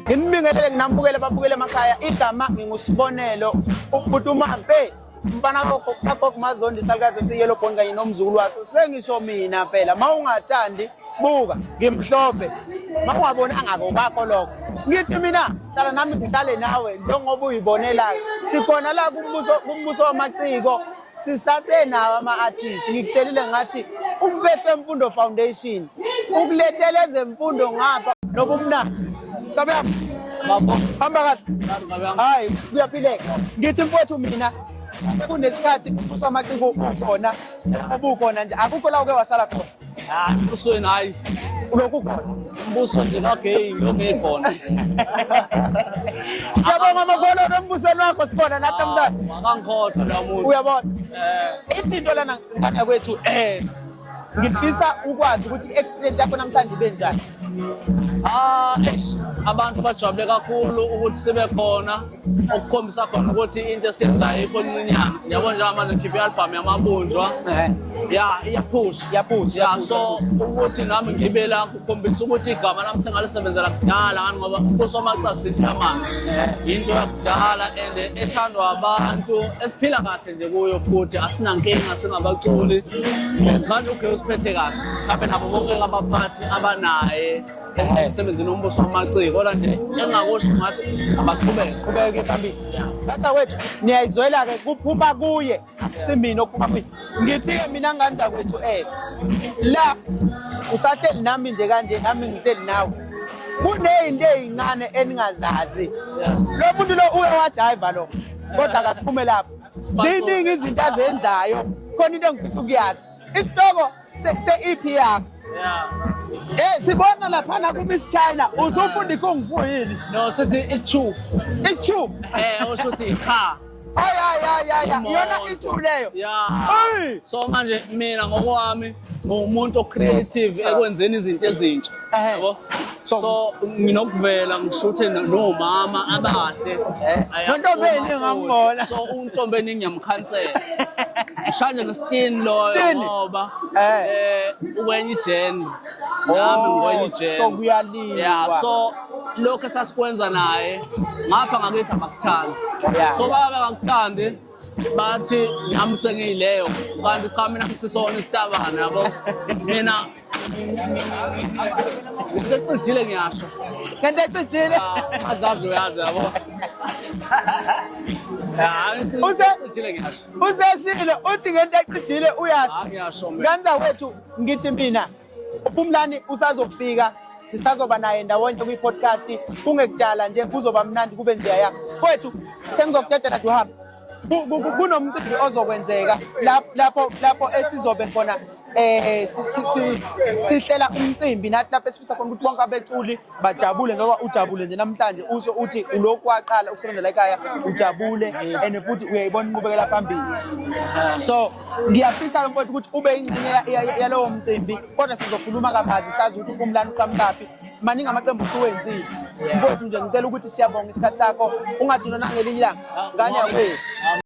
Nginibingelele nginambukele babukele emakhaya igama ngingusibonelo ubhuti umampe mfana kokho kakokho mazondi salukazi esiyelo bond kanye nomzukulu waso sengisho mina phela ma ungathandi buka ngimhlophe ma ungaboni angako kwakho lokho ngithi mina hlala nami ngihlale nawe njengoba uyibonelayo sikhona la kumbuso kumbuso wamaciko sisasenawo ama-artist ngikutshelile ngathi umpethu wemfundo foundation ukulethela ezemfundo ngapha nobumnandi ntobe yam hamba kahle hayi kuyaphileka ngithi mfowethu mina sekunesikhathi ubuso amaciko ukhona ubukhona nje akukho la uke wasala khona Ah, embusweni hayi ulokhu khona umbuso nje kagay lome khona siyabonga amagolo embusweni wakho sibona nathi ah, mntana akangikhohlwa la muntu uyabona eh ithi into lana ngana kwethu eh ngifisa ukwazi ukuthi i-experience yakho namhlanje ibe njani Ah, eish, abantu bajabule kakhulu ukuthi sibe khona okukhombisa khona ukuthi into esiyenzayo ikho ncinyana yabo njengoba manje ngikhiphe i-albhamu yamabunjwa Eh, ya iyaphusha Iyaphusha, ya iyaphusha. so ukuthi nami ngibe la kukhombisa ukuthi igama lami sengalisebenzela kudala ngani ngoba kusomacak sithamana yinto yakudala and ethandwa abantu esiphila kahle nje kuyo futhi asinankinga singabaculi simanje ugeo siphethe kahle mhlawumbe nabo bonke abaphathi abanaye emsebenzini ombuso wamaciko kodwa nje engakusho ngathi abaqhubeke qhubeke phambili tata wethu niyayizwela-ke kuphuma kuye simina okuphuma kuye ngithi-ke mina nganda kwethu um la usahleli nami nje kanje nami ngihleli nawe kunezinto ezincane eningazazi lo muntu lo uye wajayiva lo kodwa kasiphume lapho ziningi izinto azenzayo khona into engifisa ukuyazi isihloko se-ep yakho Eh sibona laphana ku Miss China uzofunda ikung fu yini? No sithi ichu. Ichu. Eh ushuthi cha. Ay ay ay ay yona ichu leyo. Yeah. So manje mina ngokwami ngumuntu o creative ekwenzeni izinto ezintsha. Ehe. Yabo? So- So nginokuvela ngishuthe no- nomama abahle. Ayaphuma Nontombeni futhi. ngamubona. So untombeni ngiyamkhansela. Shanje ngestin loyo Stin? ngoba Eh. eh ukwenye ijeni. Nami ngikwenye ijeni. so kuyaliwa. Yeah, so lokho esasikwenza naye ngapha ngakithi abakuthandi. Yeah. So baba akakuthandi bathi nami sengiyileyo kanti cha mina ngisisona isitabane yabo mina ngicijile ngiyasho kanti ecijile ah, azazi uyazi yabo useshilo uthi ngento ecijile uyasho ah, ngiyasho mina kanza wethu ngithi mina uphumlani usazofika sisazoba naye ndawonye kwi-podcast kungekudala nje kuzoba mnandi kube njeya yakho kwethu sengizokudedela nje uhambe kunomcimbi ozokwenzeka lapho lapho esizobe khona eh sihlela umcimbi nathi lapho esifisa khona ukuthi bonke abeculi bajabule ngoba ujabule nje namhlanje usho uthi ulokhu waqala ukusebenzela ekhaya ujabule and futhi uyayibona inqubekela phambili so ngiyafisa mfowethu ukuthi ube ingxenye yalowo mcimbi kodwa sizokhuluma kabazi sazi ukuthi umlando uqhamukaphi maningi amaqembu usuwenzile mfowethu nje ngicela ukuthi siyabonga isikhathi sakho ungadinwa nangelinye ilanga ngane yakwethu